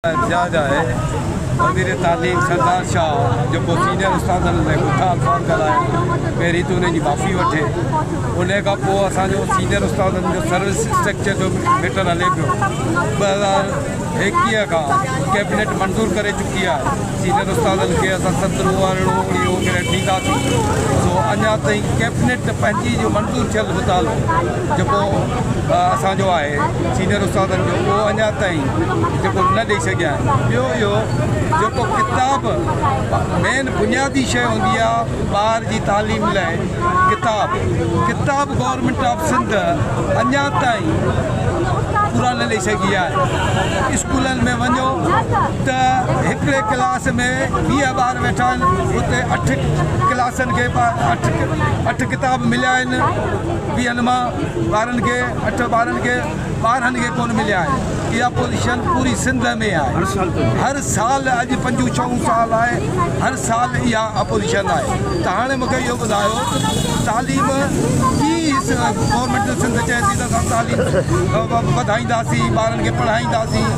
اعتجاج آهي، وزير تعليم سردار شاهه جيڪو سينيئر استادن ۾ بٺا الفاظ ڳالهايا پهرين ته انهن جي معافي وٺي انهي کان پوء اسان جو سينيئر استادن جو سروس اسٽرڪچر جو ميٽر هلي پيو ٻه هزار ايڪيهه کان ڪيبنيٽ منظور ڪري چڪي آهي سينيئر استادن کي اسان سترهون ارڙهون اڻيهون گريڊ ڏينداسين سو اڃا تائين ڪيبنيٽ پنهنجي جو منظور ٿيل مطالبو جيڪو اسان جو آهي ۽ سينئر استادن جو اهو اڃا تائين جيڪو نه ڏئي سگهيا آهن ٻيو اهو جيڪو ڪتاب مين بنيادي شيء هوندي آهي ٻار جي تعليم لاء ڪتاب ڪتاب گورنمينٽ آف سنڌ اڃا تائين پورا نه ڏئي سگهي آهي اسڪولن ۾ وڃو ته هڪڙي ڪلاس ۾ ويهه ٻار ويٺا آهن اتي اٺ ڪلاسن کي اٺ اٺ ڪتاب مليا آهن ويهن مان ٻارن کي اٺ ٻارن کي ٻارهن کي ڪونه مليا آهن اها پوزيشن پوري سنڌ ۾ آهي هر سال اڄ پنجون ڇهون سال آهي هر سال اها اپوزيشن آهي ته هاڻي مونکي اهو ٻڌايو تعليم گورنمنٽ سنڌ چئي ٿي ته اسان تعليم وڌائينداسين ٻارن کي پڙهائينداسين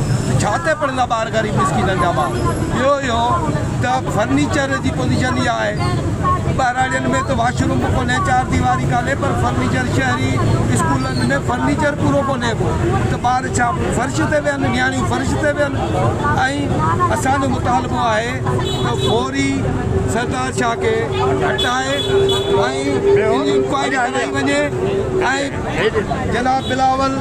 ڇا تي پڙهندا ٻار غريب مسڪينن جا ٻار ٻيو اهو ته فرنيچر جي پوزيشن اها آهي ٻهراڙين ۾ ته واش روم به ڪونهي چار ديواري ڪانهي پر فرنيچر شهري اسڪولن ۾ فرنيچر پورو ڪونهي ڪو ته ٻار ڇا فرش تي ويهن نياڻيون فرش تي ويهن ۽ اسان جو مطالبو آهي ته فوري سردار شاهه کي هٽائي ۽ انڪوائري ڪرائي وڃي ۽ جناب بلاول